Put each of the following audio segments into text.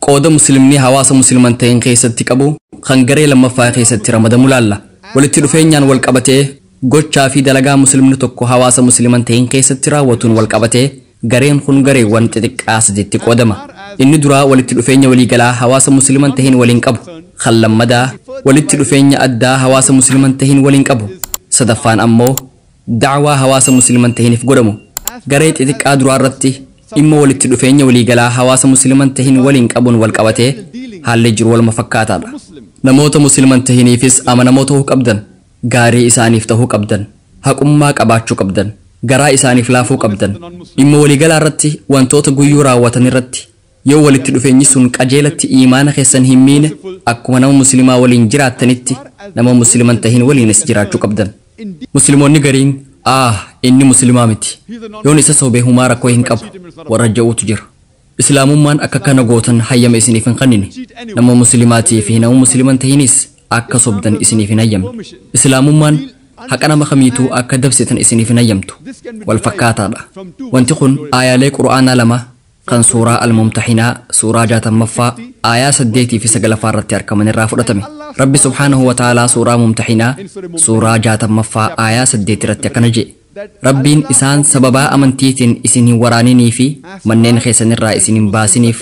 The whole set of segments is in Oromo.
Qooda Muslimni hawaasa Musliman ta'een keessatti qabu kan garee lammaffaa keessatti ramadamu laalla. Walitti dhufeenyaan wal qabatee, gochaa fi dalagaa Muslimni tokko hawaasa Musliman ta'een keessatti raawwatuun wal qabatee, gareen kun gareewwan xixiqqaa sadiitti qoodama. Inni duraa walitti dhufeenya waliigalaa hawaasa Musliman ta'een waliin qabu. Kan lammadaa, walitti dhufeenya addaa hawaasa Musliman ta'een waliin qabu. Sadaffaan ammoo, Da'waa hawaasa Musliima hin tahinif godhamu garee xixiqqaa duraa irratti dhimma walitti dhufeenya waliigalaa hawaasa Musliima hin tahin waliin qabuun wal qabatee haalli jiru waluma fakkaataa dha. Namoota Musliima hin tahiniifis amanamoo tahuu qabdan, gaarii isaaniif tahuu qabdan, haqummaa qabaachuu qabdan, garaa isaaniif laafuu qabdan, dhimma waliigalaa irratti wantoota guyyuu raawwatan irratti Yoo walitti dhufeenyi sun qajeelatti iimaana keessan hin miine, akkuma nama muslimaa waliin jiraattanitti nama muslima hin tahin waliinis jiraachuu qabdan. Muslimoonni gariin, aah, inni muslimaa miti, yoon isa sobe humaa rakkoo hin qabu, warra ja'uutu jira. Islaamummaan akka kana gootan hayyama isiniif hin kannine. Nama muslimaatii fi nama muslima hin tahinis akka sobdan isiniif hin hayyamne. Islaamummaan haqa nama kamiituu akka dabsitan isiniif hin hayyamtu. Wal fakkaataadha. Wanti kun aayaalee Qur'aanaa lama kan suuraa Al-Mumtahinaa suuraa 60ffaa aayaa 8 fi 9 ffaa irratti arkaman irraa fudhatame. Rabbi subhaanahu wa ta'aalaa suuraa Mumtahinaa suuraa 60ffaa aayaa 8 irratti akkana je'e, Rabbiin isaan sababaa amantiitiin isin hin waraaninii fi manneen keessan irraa isin hin baasiniif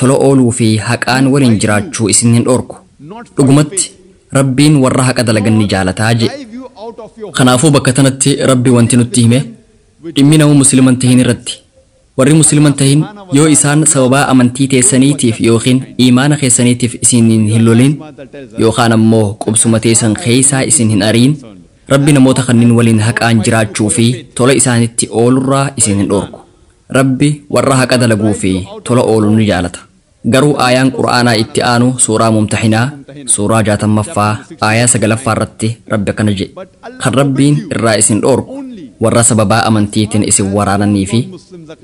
tola ooluu fi haqaan waliin jiraachuu isin hin dhoorku. Dhugumatti, Rabbiin warra haqa dalagan ni jaalataa je'e. Kanaafuu bakka tanatti Rabbi wanti nutti hime, dhimmi nama muslima hin tahin irratti Warri Muslima hin tahin yoo isaan sababaa amantii teessaniitiif yookiin iimaana keessaniitiif isiniin hin lolin yookaan ammoo qubsuma teessan keessaa isin hin ariin, Rabbi namoota kanniin waliin haqaan jiraachuu fi tola isaanitti oolurraa isin hin dhoorku. Rabbi warra haqa dalaguu fi tola oolu ni jaalata. Garuu aayaan Qur'aanaa itti aanu suuraa Mumtahinaa suuraa 60ffaa aayaa 9ffaa irratti Rabbi akkana je'e, Kan Rabbiin irraa isin dhoorku warra sababaa amantiitin isin waraananii fi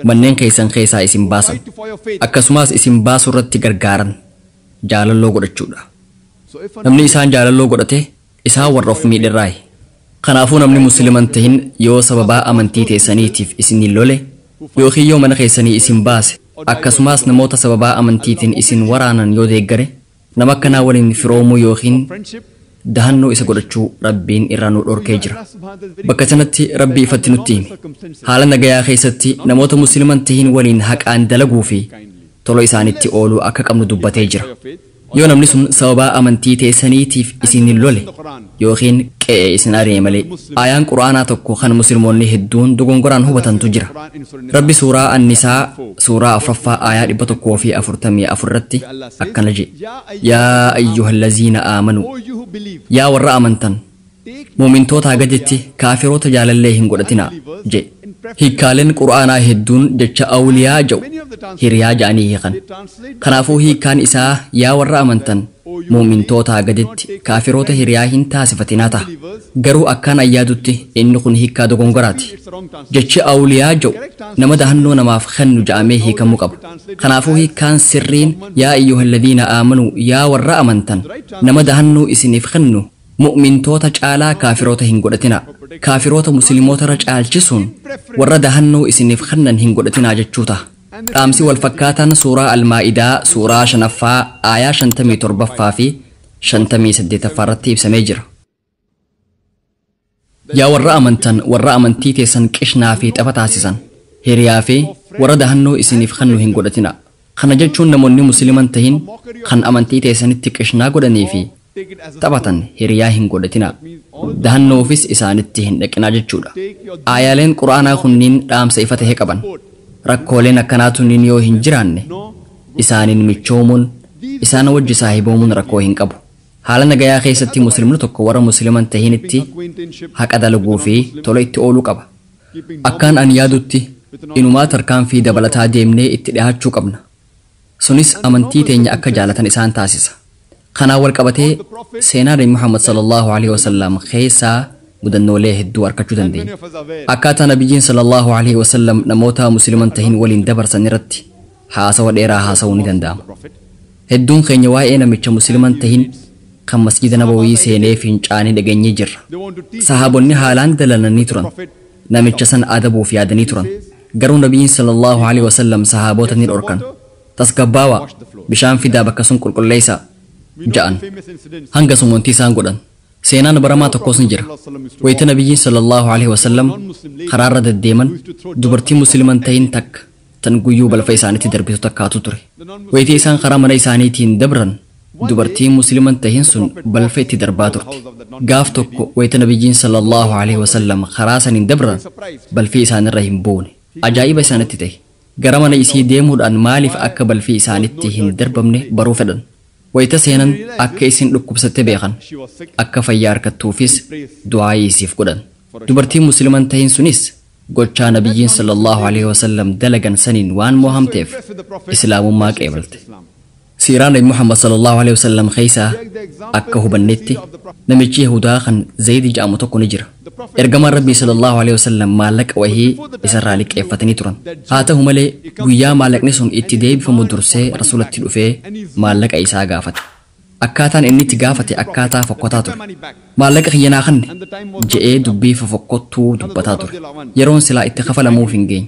manneen keessan keessaa isin baasan, akkasumaas isin baasurratti gargaaran jaalalloo godhachuudha. Namni isaan jaalalloo godhate Isaan warra of miidherraayi. Kanaafuu namni Muslima hin tahin yoo sababaa amantii teessaniitiif isiniin lole ykn yoo mana keessanii isin baase akkasumaas namoota sababaa amantiitiin isin waraanan yoo deeggare nama akkanaa waliin firoomuu ykn dahannoo isa godhachuu Rabbiin irraa nu dhorkee jira. Bakka tanatti Rabbi ifatti nutti hime. Haala nagayaa keessatti namoota Muslima hin tahin waliin haqaan dalaguu fi tola isaanitti ooluu akka qabnu dubbatee jira. Yoo namni sun sababaa amantii teessaniitiif isin lole ykn qe'ee isin ari'e malee. Aayaan Qur'aanaa tokko kan muslimoonni hedduun dogongoraan hubatantu jira. Rabbi suuraa An-Nisaa suuraa 4ffaa aayaa 144 irratti akkana je'e, Yaa ayyuhallaziina aamanuu, Yaa warra amantan! Mu'mintoota haga jetti kaafiroota jaalallee hin godhatinaa. je'e. Hiikkaalen Qur'aanaa hedduun jecha Awliyaa ja'u hiriyaa ja'anii hiikan. Kanaafuu hiikkaan isaa yaa warra amantan mu'mintoota haga jetti kaafiroota hiriyaa hin taasifatinaa taha. Garuu akkaan an yaadutti inni kun hiikkaa dogongoraati. Jechi Awliyaa ja'u nama dahannoo namaaf kennu ja'amee hiikamuu qaba. Kanaafuu hiikkaan sirriin yaa ayyuhalladhiina aamanuu yaa warra amantan nama dahannoo isiniif kennu Mu'mintoota caalaa kaafiroota hin godhatinaa. Kaafiroota Muslimootarra caalchisuun warra dahannoo isiniif kennan hin godhatinaa jechuu taha. Dhaamsi wal fakkaataan Suuraa Al-Maa'idaa Suuraa 5ffaa Aayaa 57ffaa fi 58ffaarratti ibsamee jira. Yaa warra amantan warra amantii teessan qishnaa fi tapha taasisan, hiriyaa fi warra dahannoo isiniif kennu hin godhatinaa. Kana jechuun namoonni Muslima hin tahin kan amantii teessanitti qishnaa godhanii fi taphatan hiriyaa hin godhatinaa. Dahannoofis isaanitti hin dhaqinaa jechuudha. Aayaaleen Qur'aanaa kunniin dhaamsa ifa tahe qaban. Rakkooleen akkanaa tunniin yoo hin jiraanne, isaaniin michoomuun, isaan wajji saahiboomuun rakkoo hin qabu. Haala nagayaa keessatti Muslimni tokko warra Muslima hin tahinitti haqa dalaguu fi tola itti ooluu qaba. Akkaan ani yaadutti inumaa tarkaanfii dabalataa deemnee itti dhihaachuu qabna. Sunis amantii teenya akka jaalatan isaan taasisa. Kanaan wal qabatee seenaa Nabi Muhammad sallallaahu aleyhi wa sallam keessaa mudannoolee hedduu arkachuu dandeenya. Akkaataa Nabiyyiin sallallaahu aleyhi wa sallam namoota Muslima hin tahin waliin dabarsan irratti. haasawa dheeraa haasawuun ni danda'ama. Hedduun keenya waa'ee namicha Muslima hin tahin kan Masjiida Nabawii seenee fincaane dhageenyee jirra. Sahaabonni haalaan dallananii turan. Namicha san adabuuf yaadanii turan. Garuu Nabiyyiin sallallaahu aleyhi wa sallam sahaabota ni dhorkan. Tasgabbaawaa! Bishaan fidaa bakka sun qulqulleeysaa! ja'an. Hanga sumuntii isaan godhan. Seenaan baramaa tokkos ni jira. Wayta Nabiyyiin sallallaahu aleyhi wa sallam karaarra deddeeman dubartii Muslima hin tahin takka tan guyyuu balfa isaanitti darbitu takkaatu ture. Wayita isaan karaa mana isaaniitiin dabran, dubartiin Muslima hin tahin sun balfa itti darbaa turte. Gaaf tokko wayita Nabiyyiin sallallaahu alayhi wa sallam karaa saniin dabran, balfi isaanirra hin buune. Ajaa'iba isaanitti tahe. Gara mana isii deemuudhaan maaliif akka balfi isaanitti hin darbamne baruu fedhan. Wayita seenan akka isin dhukkubsatte beekan. Akka fayyaa arkattuufis du'aa'ii isiif godhan. Dubartiin Muslima hin tahin sunis Gochaa Nabiyyiin sallallaahu aleyhi wasallam dalagan saniin waan moohamteef Islaamummaa qeebalte. Siiraa Nabi Muhammad sallallaahu aleyhi wasallam keeysaa akka hubannetti namichi Yahuudaa kan Zaydi ja'amu tokko ni jira. Ergamaan Rabbii sallallaahu aleyhi wasallam maallaqa wahii isarraa liqqeeffatanii turan. Haa tahu malee guyyaa maallaqni sun itti deebifamu dursee Rasuulatti dhufee maallaqa isaa gaafate. Akkaataan inni itti gaafate akkaataa fokkotaa ture. Maallaqa kiyya naa kanni! je'ee dubbii fofokkottuu dubbataa ture. Yeroon silaa itti kafalamuuf hin geenye.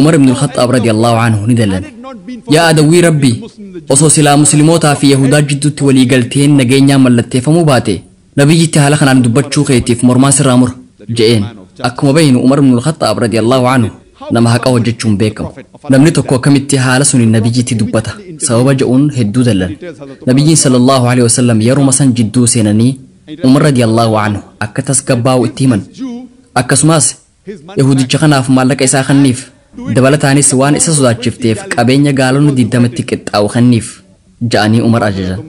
Umar ibn al-Khaxxaab radiyallaahu anhu ni dallane. Yaa adawwii Rabbii! Osoo silaa muslimootaa fi yahuudaa jidduutti walii galteen nageenyaa mallatteeffamuu baatee, Nabiyyitti haala kanaan dubbachuu keetiif mormaa sirraa mura. je'een. Akkuma beeynu Umar ibnul Khaxxaab, radiyallaahu anhu, nama haqa hojjachuun beekamu. Namni tokko akkamitti haala suniin Nabiyyitti dubbata? sababa je'uun hedduu dallane. Nabiyyiin, sallallaahu aleyhi wasallam, yeruma san jidduu seenanii Umar, radiyallaahu anhu, akka tasgabbaawu itti himan. Akkasumaas, Yahuudicha kanaaf maallaqa isaa kenniif. Dabalataanis waan isa sodaachifteef qabeenya gaalonni digdama itti qixxaa'u kenniif. ja'anii Umar ajajan.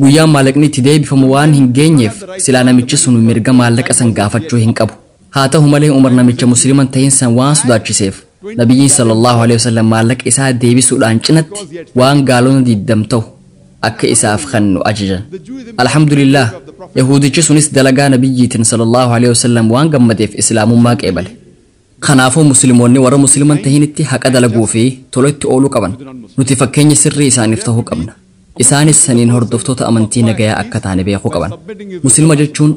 Guyyaan maallaqni itti deebifamu waan hin geenyeef silaa namichi sun mirga maallaqa san gaafachuu hin qabu. Haa tahu malee Umar namicha Muslima hin tahin san waan sodaachiseef Nabiyyiin sallallaahu aleyhi wasallam maallaqa isaa deebisuudhaan cinatti waan gaalonni digdam tahu akka isaaf kennu ajajan. Alhamdulillaah, Yahuudichi sunis dalagaa Nabiyyiitiin sallallaahu aleyhi wasallam waan gammadeef Islaamummaa qeebale. Kanaafuu Muslimoonni warra Muslima hin tahinitti haqa dalaguu fi tola itti ooluu qaban. Nuti fakkeenya sirrii isaaniif tahuu qabna. Isaanis saniin hordoftoota amantii nagayaa akka taane beekuu qaban. Muslima jechuun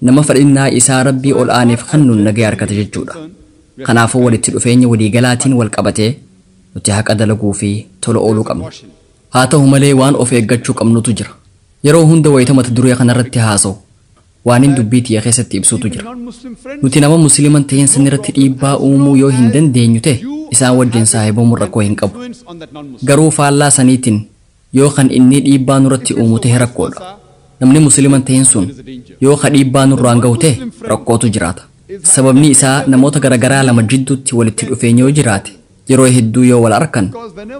nama fedhinnaa isaa Rabbii ol aaneef kennuun nagaya argate jechuudha. Kanaafuu walitti dhufeenya walii galaatiin wal qabatee nuti haqa dalaguu fi tola ooluu qabna. Haa ta'u malee waan of eeggachuu qabnutu jira. Yeroo hunda wayita mata duree kanarratti haasawu waanin dubbii tiyya keessatti ibsutu jira. Nuti nama Muslima hin tahin sanirratti dhiibbaa uumuu yoo hin dandeenyu ta'e isaan wajjin saahibomuun rakkoo hin qabu. Garuu faallaa saniitin yoo kan innii dhiibbaa nurratti uumu tahe rakkoodha. Namni Muslima hin tahin sun yoo ka dhiibbaa nurraan gahu tahe rakkootu jiraata. Sababni isaa namoota garagaraa lama jidduutti walitti dhufeenyi yoo jiraate, Yeroo hedduu yoo wal arkan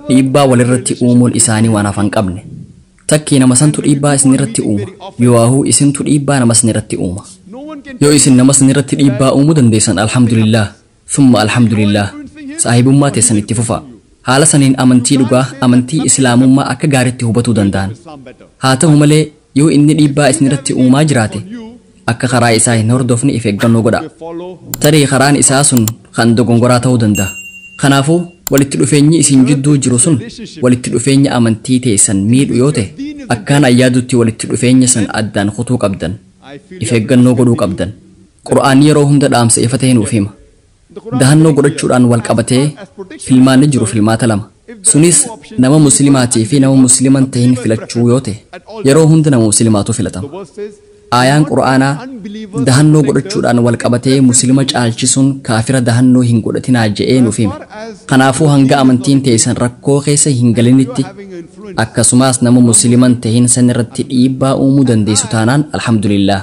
dhiibbaa walirratti uumuun isaanii waan hafa hin qabne. Takkii nama santu dhiibbaa isinirratti uuma yooaahuu isintu dhiibbaa nama sanirratti uuma. Yoo isin nama sanirratti dhiibbaa uumuu dandeessan Alhamdulillaah thumma Alhamdulillaah saahibummaa teessan itti fufaa. Haala saniin amantii dhugaa, amantii Islaamummaa akka gaaritti hubatuu danda'an. Haa tahu malee Yoo inni dhiibbaa isinirratti uumaa jiraate, akka karaa isaa hin hordofne if eeggannoo godhaa. Tarii karaan isaa sun kan dogongoraa ta'uu danda'a. Kanaafuu, walitti dhufeenyi isin jidduu jiru sun walitti dhufeenya amantii teessan miidhu yoo ta'e, akkaan an yaadutti walitti dhufeenya san addaan kutuu qabdan. If eeggannoo godhuu qabdan. Qur'aanni yeroo hunda dhaamsa ifa ta'e nuuf hima. Dahannoo godhachuudhaan wal qabatee filmaanni jiru filmaata lama. Sunis nama muslimaatii fi nama muslima hin tahin filachuu yoo tahe, yeroo hunda nama muslimaatu filatama. Aayaan Qur'aanaa dahannoo godhachuudhaan wal qabatee muslima caalchisuun kaafira dahannoo hin godhatinaa je'ee nuuf hime. Kanaafuu hanga amantiin teeysan rakkoo keessa hin galinitti, akkasumaas nama muslima hin tahin san irratti dhiibbaa uumuu dandeeysu taanaan alhamdulillaah.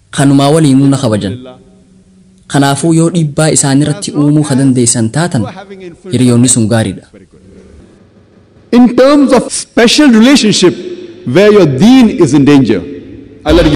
Kanumaa waliinuu na kabajan. Kanaafuu yoo dhiibbaa isaaniratti uumuu ka dandeessan taatan hiriyoonni sun gaariidha. In terms of special relationship where your deen is in danger. Alladh.